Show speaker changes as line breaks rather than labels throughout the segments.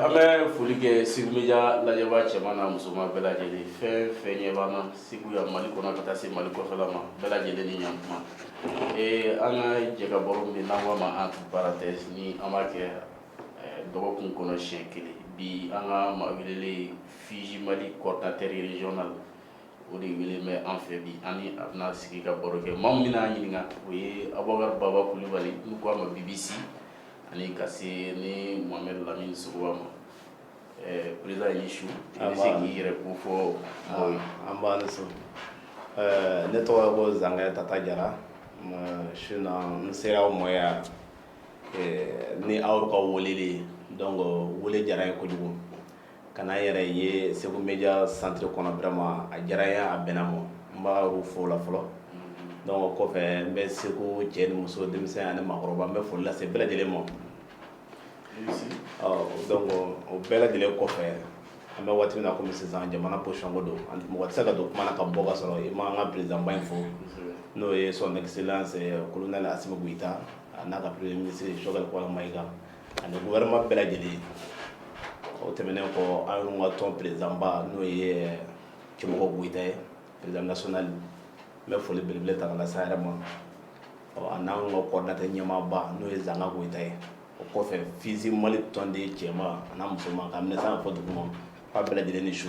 An bɛ foli kɛ segu Media lajɛbaa cɛman n'a musoman bɛɛ lajɛlen fɛn fɛn ɲɛ b'an na segu yan mali kɔnɔ ka taa se mali kɔfɛla ma bɛɛ lajɛlen ni yan kuma ee an ka jɛkabaro min n'an k'a ma entre parenthèses ni an b'a kɛ dɔgɔkun kɔnɔ siɲɛ kelen bi an ka maa welelen FUSI Mali coordinateur régional o de wele bɛ an fɛ bi ani a bɛna sigi ka baro kɛ maa min n'a ɲininka o ye Abubakar Baba Kulubali n'u k'a ma BBC ani ka se ni Mohamed Lamine Sogoba ma président i ni su i bɛ se k'i yɛrɛ ko fɔ nba
ne tɔgɔ ko Zankɛ Tata Jara su na n sera aw ma yan ni aw ka wele de ye donc wele diyara n ye kojugu ka na n yɛrɛ ye segu Media centre kɔnɔ vraiment a diyara n ye a bɛnna n ma n b'aw fo o la fɔlɔ donc o kɔfɛ n bɛ segu cɛ ni muso denmisɛnnin ani maakɔrɔba n bɛ foli lase bɛɛ lajɛlen ma o bɛɛ lajɛlen kɔfɛ an bɛ waati min na kɔmi sisan jamana position ko don ani mɔgɔ tɛ se ka don kuma na ka bɔ ka sɔrɔ i ma an ka président ba in fo n'o ye son excellence colonel Assimi Goyita a n'a ka premier ministre Choguel Kokala Mayiga ani gouvernement bɛɛ lajɛlen o tɛmɛnen kɔ anw ka tɔn président ba n'o ye Cɛmɔgɔ Goyita ye président national n bɛ foli belebele ta ka lase a yɛrɛ ma ɔ a n'an ka coordinateur ɲɛmaaba n'o ye Zanga Goyita ye o kɔfɛ FUSI Mali tɔnden cɛman a n'a musoman k'a minɛ san ka fɔ duguma k'a bɛɛ lajɛlen ni su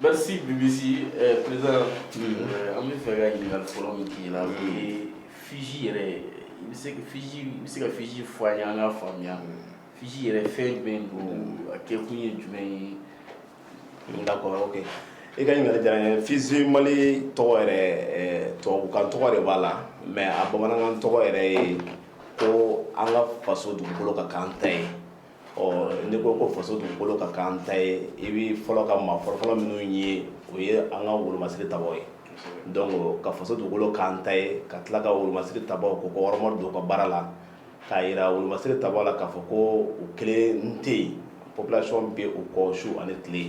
Merci BBC euh, président mm. euh, an bɛ fɛ ka ɲininkali fɔlɔ min k'i la o ye FUSI yɛrɛ i bɛ se ka FUSI i bɛ se ka FUSI fɔ an ye an k'a faamuya FUSI yɛrɛ fɛn jumɛn don a kɛkun ye jumɛn ye. D'accord
ok i ka ɲininkali diyara n ye FUSI Mali tɔgɔ yɛrɛ euh, tubabukan tɔgɔ de b'a la mais a bamanankan tɔgɔ yɛrɛ ye ko an ka faso dugukolo ka k'an ta ye. ɔ n'i ko ko faso dugukolo ka k'an ta ye i bɛ fɔlɔ ka maa fɔlɔfɔlɔ minnu ye o ye an ka wolomasiri tabaw ye donc ka faso dugukolo k'an ta ye ka tila ka wolomasiri tabaw kɔkɔrɔmadon u ka baara la k'a jira wolomasiri tabaw la k'a fɔ ko u kelen tɛ yen population bɛ u kɔ su ani tile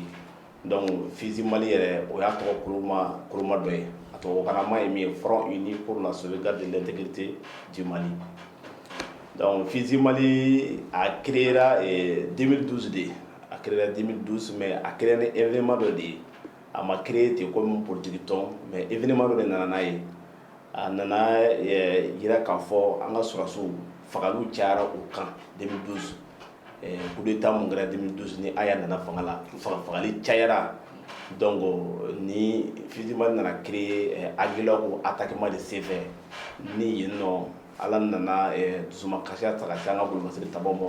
Donc FUSI Mali yɛrɛ o y'a tɔgɔ kolomaa koloma dɔ ye a tubabukanama ye min ye Front Uni pour la Sauvegarde de l'Intégrité du Mali donc FUSI Mali a créer ra ee 2012 de a créer ra 2012 mais a créer ra ni événement dɔ de ye a ma créer ten comme politique tɔn mais événement dɔ de nana n'a ye a nana ɛɛ jira k'a fɔ an ka sɔrasiw fagali cayara u kan 2012 Kudeta min kɛra 2012 ni Aya nana fanga la fagali cayara donc ni FUSI Mali nana créé Aguelhok attaquement de senfɛ ni yen nɔ ala nana dusumakasiya ta ka se an ka wolomasiri tabaw ma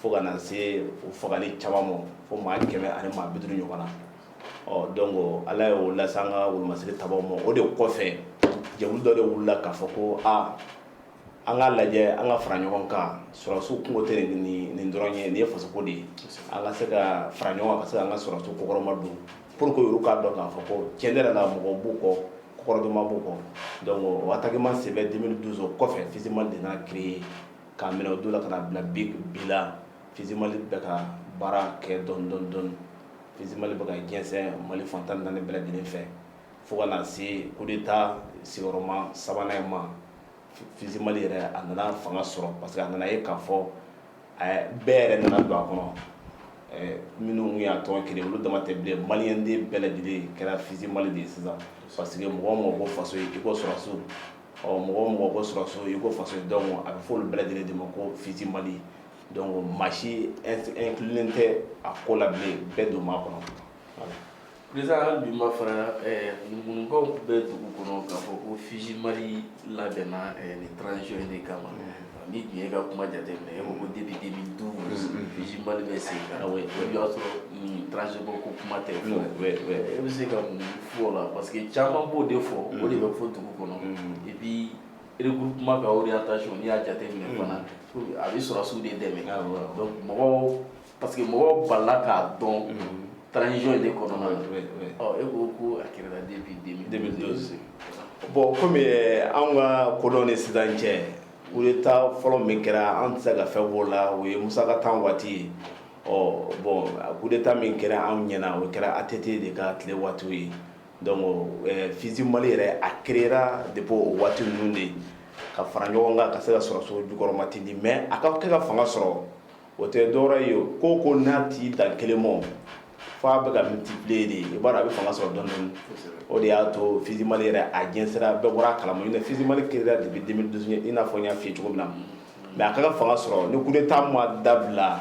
fo ka na se u fagali caman ma fo maa kɛmɛ ani maa bi duuru ɲɔgɔn na ɔ donc ala y'o lase an ka wolomasiri tabaw ma o de kɔfɛ jɛkulu dɔ de wulila k'a fɔ ko aa an k'a lajɛ an ka fara ɲɔgɔn kan sɔrɔsiw kungo tɛ nin dɔrɔn ye nin ye fasoko de ye an ka se ka fara ɲɔgɔn kan ka se k'an ka sɔrɔsiw kɔkɔrɔma don pur que olu k'a dɔn k'a fɔ ko cɛn yɛrɛ la mɔgɔ b'u kɔ kɔkɔrɔdonma b'u kɔ donc o attaquement senfɛ 2012 o kɔfɛ FUSI Mali de créé k'a minɛ o don la ka na bila bi la FUSI Mali bɛ ka baara kɛ dɔɔni dɔɔni FUSI Mali bɛ ka jɛsɛn mali fan tan ni naani bɛɛ lajɛlen fɛ fo ka se kudeta sigiyɔrɔma sabanan in ma FUSI Mali yɛrɛ a nana fanga sɔrɔ parce que a nana ye k'a fɔ bɛɛ yɛrɛ nana don a kɔnɔ minnu y'a tɔn créé olu dama tɛ bilen maliyɛnden bɛɛ lajɛlen kɛra FUSI Mali de ye sisan parce que mɔgɔ o mɔgɔ ko faso i ko sɔrɔsiw mɔgɔ o mɔgɔ ko sɔrɔsiw i ko faso donc a bɛ fɔ olu bɛɛ lajɛlen de ma ko FUSI Mali donc maa si inclulen tɛ a ko la bilen bɛɛ don a kɔnɔ Président
hali bi ma fara ɛɛ ŋunuŋunukanw bɛ dugu kɔnɔ k'a fɔ ko FUSI Mali labɛnna ɛɛ nin transition in de kama, unhun, ni tun ye e ka kuma jateminɛ e ko ko depuis 2012 FUSI Mali bɛ sen kan, oui, o y'a sɔrɔ nin transition ko kuma tɛ, oui, oui, oui, e bɛ se ka mun fɔ o la parce que caman b'o de fɔ, unhun, o de bɛ fɔ dugu kɔnɔ, unhun, et puis regroupement ka orientation n'i y'a jateminɛ fana, unhun, a bɛ sɔrɔsiw de dɛmɛ, awɔ, donc mɔgɔw parce que mɔgɔw balila k'a dɔn transition in de kɔnɔna na e ko ko a kɛra depuis 2012 bon
comme eh, anw ka kodɔn ni sisan cɛ kudeta fɔlɔ min kɛra an tɛ se ka fɛn b'o la o ye Musa ka tan waati ye ɔ bon kudeta min kɛra anw ɲɛna o kɛra ATT de ka tile waatiw ye donc eh, FUSI Mali yɛrɛ a créera depuis o waati ninnu de ka fara ɲɔgɔn kan ka se ka sɔrɔsiw jukɔrɔmatintin mais a ka kɛ ka fanga sɔrɔ o tɛ dɔwɛrɛ ye ko ko n'a t'i dan kelen ma fo a bɛ ka multiplier de i b'a dɔn a bɛ fanga sɔrɔ dɔɔni dɔɔni o de y'a to FUSI Mali yɛrɛ a jɛnsɛra bɛɛ bɔra a kalama FUSI Mali créera depuis 2012 i n'a fɔ n y'a f'i ye cogo min na mais a ka ka fanga sɔrɔ ni kudeta ma dabila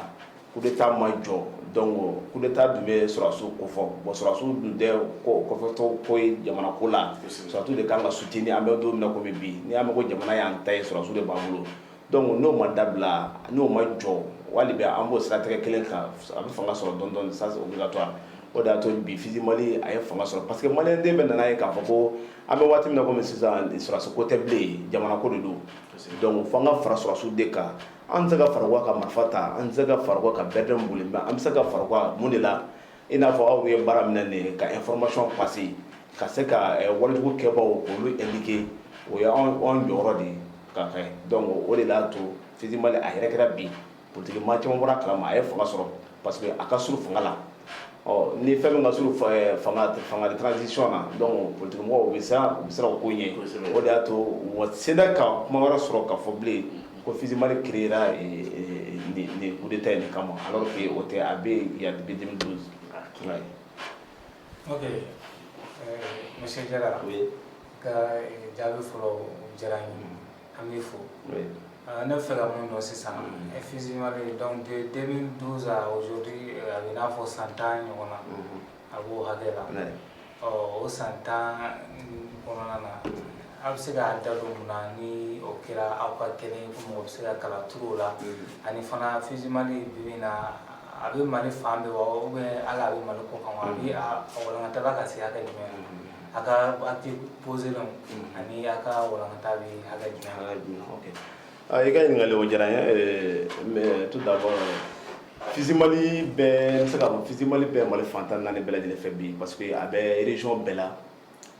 kudeta ma jɔ donc kudeta dun bɛ sɔrɔsiw kofɔ bon sɔrɔsiw dun tɛ kɔfɛtɔ ko ye jamana ko la sɔrɔsiw de ka kan ka soutenir an bɛ don min na kɔmi bi n'i y'a mɛn ko jamana y'an ta ye sɔrɔsiw de b'an bolo Dɔnku n'o ma dabila n'o ma jɔ wali bɛ an b'o siratigɛ kelen kan a bɛ fanga sɔrɔ dɔɔni dɔɔni ça c'est obligatoire o de y'a to bi FISI Mali a ye fanga sɔrɔ parce que maliyɛn den bɛɛ nan'a ye k'a fɔ ko an bɛ waati min na kɔmi sisan sɔrɔsi ko tɛ bilen jamana ko de don dɔnku fo an ka fara sɔrɔsiw de kan an tɛ se ka fara u kan ka marifa ta an tɛ se ka fara u kan ka BRDM boli mais an bɛ se ka fara u kan mun de la I n'a fɔ aw ye baara min na nin ye ka information passer ka se ka walejugu kɛbaaw k'olu indiquer o ye anw jɔyɔrɔ de ye ka kɛ donc o de y'a to FISI Mali a yɛrɛ kɛra bi politique maa caman bɔra a kalama a ye fanga sɔrɔ parce que a ka surun fanga la ɔ ni fɛn min ka surun fanga de transition na donc politique mɔgɔw u bɛ siran o ko ɲɛ o de y'a to u ma sela ka kuma wɛrɛ sɔrɔ ka fɔ bilen ko fiimani kira de ta nin kama ala fɛ o tɛ a bɛ yan misi
jara ka jaabi fɔlɔ diyara an bɛ fo ne fɛ ka mun dɔn sisan e fiima dɔn den donso a bɛ n'a fɔ san tan ɲɔgɔn na A b'o hakɛ la ɔ o san tan kɔnɔna na aw bɛ se k'a da don mun na ni o kɛra aw ka kɛlen ko mɔgɔ bɛ se ka kala turu o la ani fana FISI Mali bi in na a bɛ mali fan bɛɛ wa ou bien hali a bɛ mali kɔ kan wa a walankata bɛ ka se hakɛ jumɛn a ka acte posélenw ani a ka walankata bɛ hakɛ jumɛn I ka ɲininkali o
diyara n ye ɛɛ mais tout d'abord FISI Mali bɛ n bɛ se k'a fɔ FISI Mali bɛ Mali fan 14 bɛɛ lajɛlen fɛ bi parce que a bɛ région bɛɛ la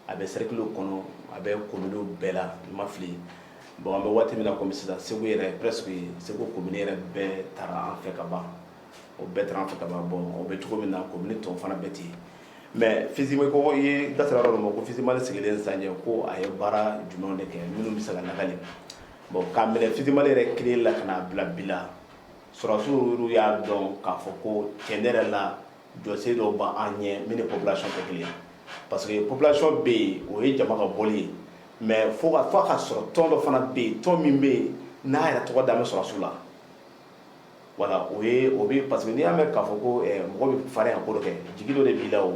a bɛ cercle kɔnɔ a bɛ kominiw bɛɛ la n ma fili bon an bɛ waati min na komi sisan Segu yɛrɛ presque Segu komini yɛrɛ bɛɛ tara an fɛ ka ban o bɛɛ tara an fɛ ka ban bon o bɛ cogo min na commune tɔw fana bɛ ten yen mɛ fisi mali ko i da sera yɔrɔ dɔ ma ko fisi mali sigilen san ye ko a ye baara jumɛn de kɛ minnu bɛ se ka lakali bon k'a minɛ fisi mali yɛrɛ créer la ka n'a bila bi la sɔrɔsiw y'a dɔn k'a fɔ ko cɛn yɛrɛ la jɔsen dɔw b'an ɲɛ min ni population tɛ kelen ye parce que population bɛ yen o ye jama ka bɔ ye mɛ fo a ka sɔrɔ tɔn dɔ fana bɛ yen tɔn min bɛ yen n'a yɛrɛ tɔgɔ da bɛ sɔrɔsiw la voilà o ye o bɛ parce que n'i y'a mɛn k'a fɔ ko mɔgɔ bɛ farinya ka ko dɔ kɛ jigi dɔ de b'i la o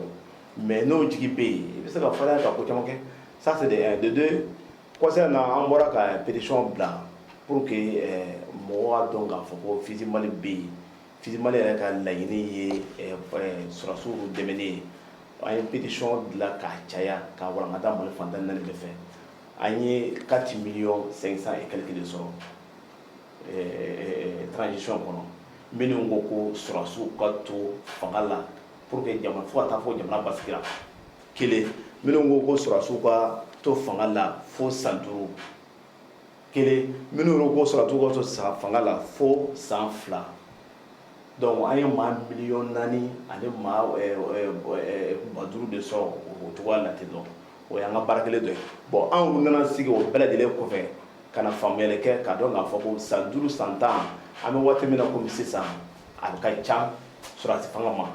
mais n'o jigi bɛ yen i bɛ se ka farinya ka ko caman kɛ ça c'est de un de deux kɔsa in na an bɔra ka pétition bila pour que mɔgɔw k'a dɔn k'a fɔ ko FISI Mali bɛ yen FISI Mali yɛrɛ ka laɲini ye sɔrɔdasiw dɛmɛni ye an ye pétition dilan k'a caya k'a walankata Mali fan tan ni naani bɛɛ fɛ an ye 4 millions 500 et quelques de sɔrɔ transition kɔnɔ minnu ko ko sɔrɔdasiw ka to fanga la pour que jamana fo ka taa fɔ jamana basigira kelen minnu ko ko sɔrɔdasiw ka to fanga la fo san duuru kelen minnu yɛrɛ ko sɔrɔdasiw ka to san fanga la fo san fila donc an ye maa miliyɔn naani ani maa ba duuru de sɔrɔ o cogoya la ten dɔn o y'an ka baara kɛlen dɔ ye bon anw nana sigi o bɛɛ lajɛlen kɔfɛ ka na faamuyali kɛ k'a dɔn k'a fɔ ko san duuru san tan an bɛ waati min na kɔmi sisan a bɛ ka ca sɔrɔdasi fanga ma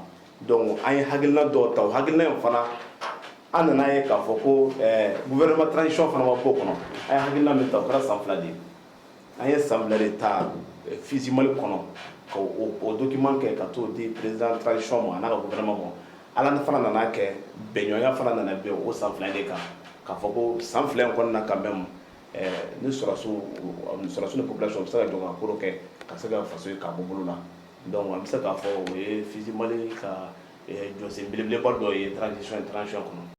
donc an ye hakilina dɔ ta o hakilina in fana an nana ye k'a fɔ ko gouvernement transition fana ma bɔ o kɔnɔ an ye hakilina min ta o kɛra san fila de ye an ye san fila de ta fisi mali kɔnɔ ka o document kɛ ka t'o di président transition ma a n'a ka gouvernement ma ala ni fana nana kɛ bɛnɲɔgɔnya fana nana bɛn o san fila de kan k'a fɔ ko san fila in kɔnɔna na quand même ni sɔrɔdasiw sɔrɔdasiw ni population bɛ se ka jɔ ka ko dɔ kɛ ka se ka faso ye k'a bɔ bolo la donc an bɛ se k'a fɔ o ye fisi mali ka jɔsen belebeleba dɔ ye transi transition kɔnɔ